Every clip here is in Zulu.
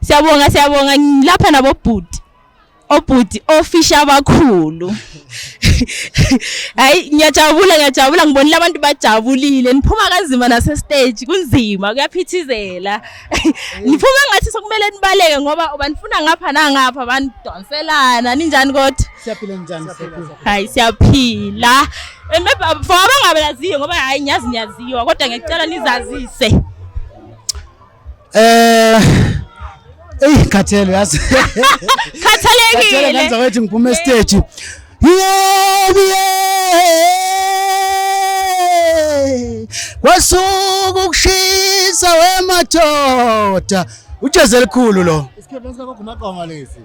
Siyabonga siyabonga ngilapha nabo bhuti. Obhuti ofisha abakhulu. Hayi ngiyajabula ngiyajabula ngibonile abantu bajabulile niphuma kanzima nase stage kunzima kuyaphithizela. niphume ngathi sokumele nibaleke ngoba banifuna ngapha nangapha banidonselana ninjani kodwa siyaphila njani hayi siyaphila and maybe for abangabaziyo ngoba hayi ngiyazi niyaziwa kodwa ngiyacela nizazise eh eyi khathele yazi khathalekile khathele ngenza wethi ngiphume stage Yebo yebo. Kwasuka ukushisa wemadoda. Ujeze elikhulu lo. Isikhephe sika Gumaqoma lesi.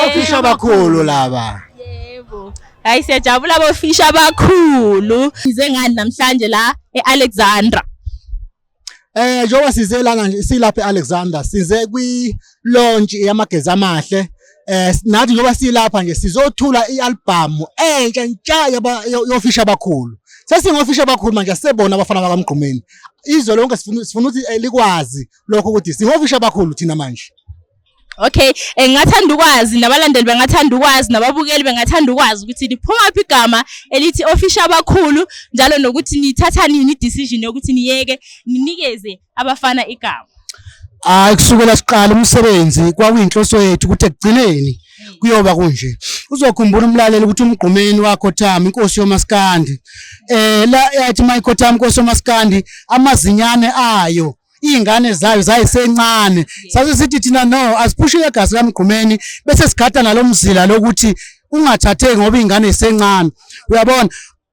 Ofisha abakhulu laba. Yebo. Hayi siyajabula bofisha abakhulu. Size ngani namhlanje la eAlexandra. Eh njengoba size lana nje silapha eAlexander size kwi launch yamagezi amahle eh nathi njengoba silapha nje sizothula ialbum entsha ntsha yaba- yo- yofisha abakhulu sesingofisha abakhulu manje sibona abafana bakamgqumeni izwe lonke sifuna sifuna ukuthi eh, likwazi lokho ukuthi singofisha abakhulu thina manje Okay, eh, ngingathanda ukwazi nabalandeli bengathanda ukwazi nababukeli bengathanda ukwazi ukuthi liphuma phi igama elithi ofisha abakhulu njalo nokuthi nithatha nini decision yokuthi niyeke ninikeze abafana igama. Hayi kusukela siqala umsebenzi kwakuyinhloso yethu ukuthi ekugcineni kuyoba kunje uzokhumbula umlaleli ukuthi umgqumeni wakho Thami inkosi yomaskandi eh la yathi mayikho Thami inkosi yomaskandi amazinyane ayo iy'ngane zayo zayisencane sase sithi thina no asiphushi legasi kamgqumeni bese sigada nalo mzila lokuthi ungathatheki ngoba iy'ngane zisencane uyabona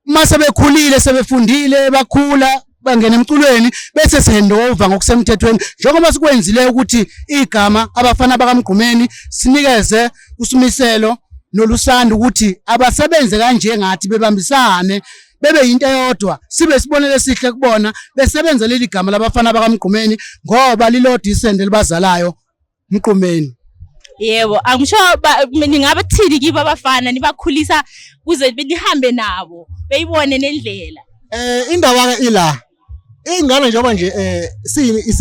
uma sebekhulile sebefundile bakhula bangena emculweni bese sihandova ngokusemthethweni njengoba sikwenzile ukuthi igama abafana bakamgqumeni sinikeze usimiselo nolusanda ukuthi abasebenze kanje ngathi bebambisane bebe yinto eyodwa sibe isibonelo esihle kubona besebenza leli gama labafana bakamgqumeni ngoba lilodwa isende libazalayo mgqumeni yebo angisho ningabe thini kibo abafana nibakhulisa kuze nihambe nabo beyibone nendlela eh indawo ke ila Ingane njengoba nje eh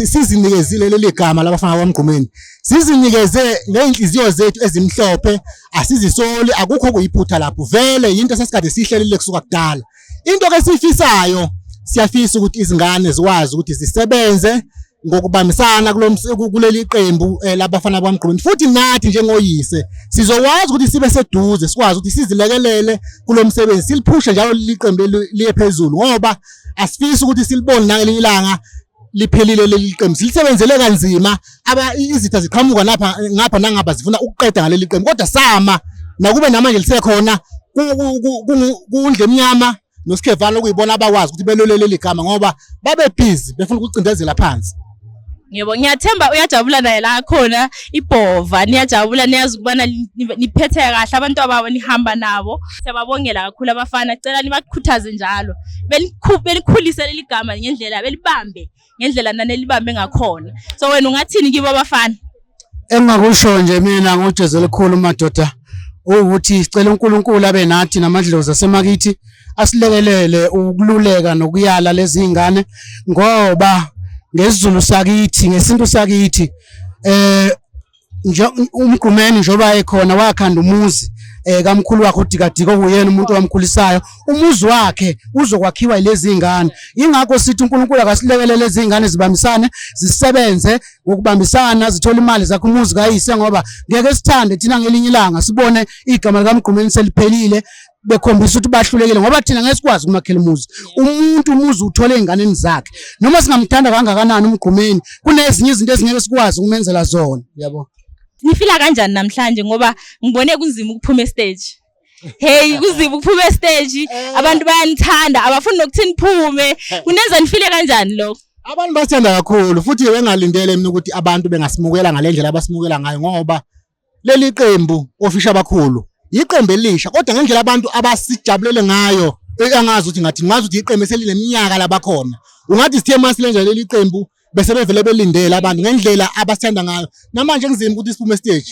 sizinikezile leli gama labafana kwaMgqumeni. Sizinikeze ngeenhliziyo zethu ezimhlophe, asizisoli, akukho kuyiphutha lapho. Vele yinto sesikade siyihlelile kusuka kudala. Into ke siyifisayo siyafisa ukuthi izingane zikwazi ukuthi zisebenze ngokubambisana kuleli qembu eh, labafana kwaMgqumeni futhi nathi njengoyise sizokwazi ukuthi sibe seduze sikwazi ukuthi sizilekelele kulo msebenzi siliphushe njalo liqembu liye phezulu ngoba asifisi ukuthi silibone nangelinye ilanga liphelile leli qembu silisebenzele kanzima aba izitha ziqhamuka lapha ngapha nangapha zifuna ukuqeda ngaleli qembu kodwa sama nakube namanje lisekhona kundle emnyama noSikhevane okuyibona abakwazi ukuthi belwele leli gama ngoba babebhizi befuna ukucindezela phansi Ngiyebo ngiyathemba uyajabula naye la khona ibhova niyajabula niyazi ukubana niphethe kahle abantu ababo nihamba nabo siyababongela kakhulu abafana cela nibakhuthaze njalo belikhulise leli gama ngendlela belibambe ngendlela nanelibambe ngakhona so wena ungathini kibo abafana engingakusho nje mina ngojezi elikhulu madoda ukuthi sicela uNkulunkulu abe nathi namadlozi asemakithi asilekelele ukululeka nokuyala lezi zingane ngoba ngesizulu sakithi ngesintu sakithi eh umgqumeni njengoba ekhona wakhanda umuzi eh kamkhulu wakhe udikadika okuyena umuntu owamkhulisayo umuzi wakhe uzokwakhiwa ilezi zingane ingakho sithi uNkulunkulu akasilekelele lezi zingane zibambisane zisebenze ngokubambisana zithola imali zakhe umuzi kayise ngoba ngeke sithande thina ngelinye ilanga sibone igama likamgqumeni seliphelile bekhombisa ukuthi bahlulekile ngoba thina ngeke sikwazi ukumakhela umuzi umuntu umuzi uthole ezinganeni zakhe noma singamthanda kangakanani umgqumeni kunezinye izinto esingeke sikwazi ukumenzela zona yabo nifila kanjani namhlanje ngoba ngibone kunzima ukuphuma estage hey kuzima ukuphuma estage eh. abantu bayanithanda abafuni nokuthi niphume eh. kunenza nifile kanjani lokho abantu bathanda kakhulu futhi bengalindele mina ukuthi abantu bengasimukela ngalendlela abasimukela ngayo ngoba Leli qembu ofisha abakhulu yiqembu elisha kodwa ngendlela abantu abasijabulele ngayo angazi ukuthi ngathi ngazi ukuthi iqembu eselineminyaka labakhona ungathi sithe masilenza leli qembu bese bevele belindele abantu ngendlela abasithanda ngayo namanje kunzima ukuthi siphume stage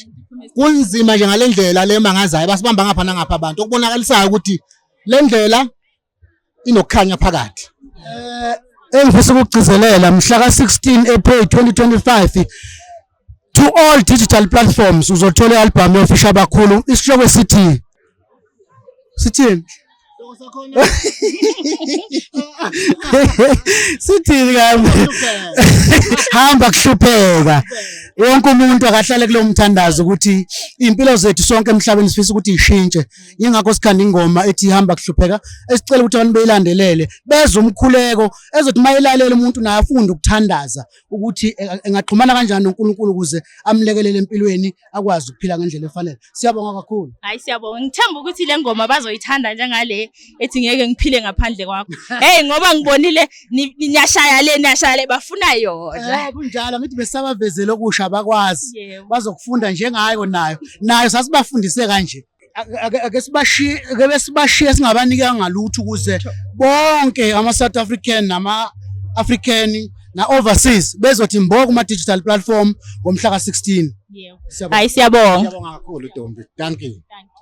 kunzima nje ngalendlela le mangazayo basibamba ngapha nangapha abantu okubonakalisayo ukuthi lendlela inokukhanya phakathi eh engifisa ukugcizelela mhla ka-16 April 2025 to all digital platforms uzothola i-albhamu yofisha abakhulu isihloko esithi sithini sithini kambe hamba kuhlupheka wonke umuntu akahlale kulo mthandazo ukuthi impilo zethu sonke emhlabeni sifisa ukuthi ishintshe yingakho sikhanda ingoma ethi ihamba kuhlupheka esicela ukuthi abantu beyilandelele bezwe umkhuleko ezothi uma elalela umuntu naye afunde ukuthandaza ukuthi e-, engaxhumana kanjani noNkulunkulu ukuze amlekelele empilweni akwazi ukuphila ngendlela efanele siyabonga kakhulu hayi siyabonga ngithemba ukuthi le ngoma bazoyithanda njengale ethi ngeke ngiphile ngaphandle kwakho hey ngoba ngibonile niyashaya le niyashaya le bafuna yona eh kunjalo ngithi besabavezele okusha bakwazi bazokufunda njengayo nayo nayo sasibafundise kanje ake sibashiye ake besibashiye singabanika ngalutho ukuze bonke ama South African nama African na overseas bezothi mbo kuma digital platform ngomhla ka 16 yeah hayi siyabonga siyabonga kakhulu Dombi thank you thank you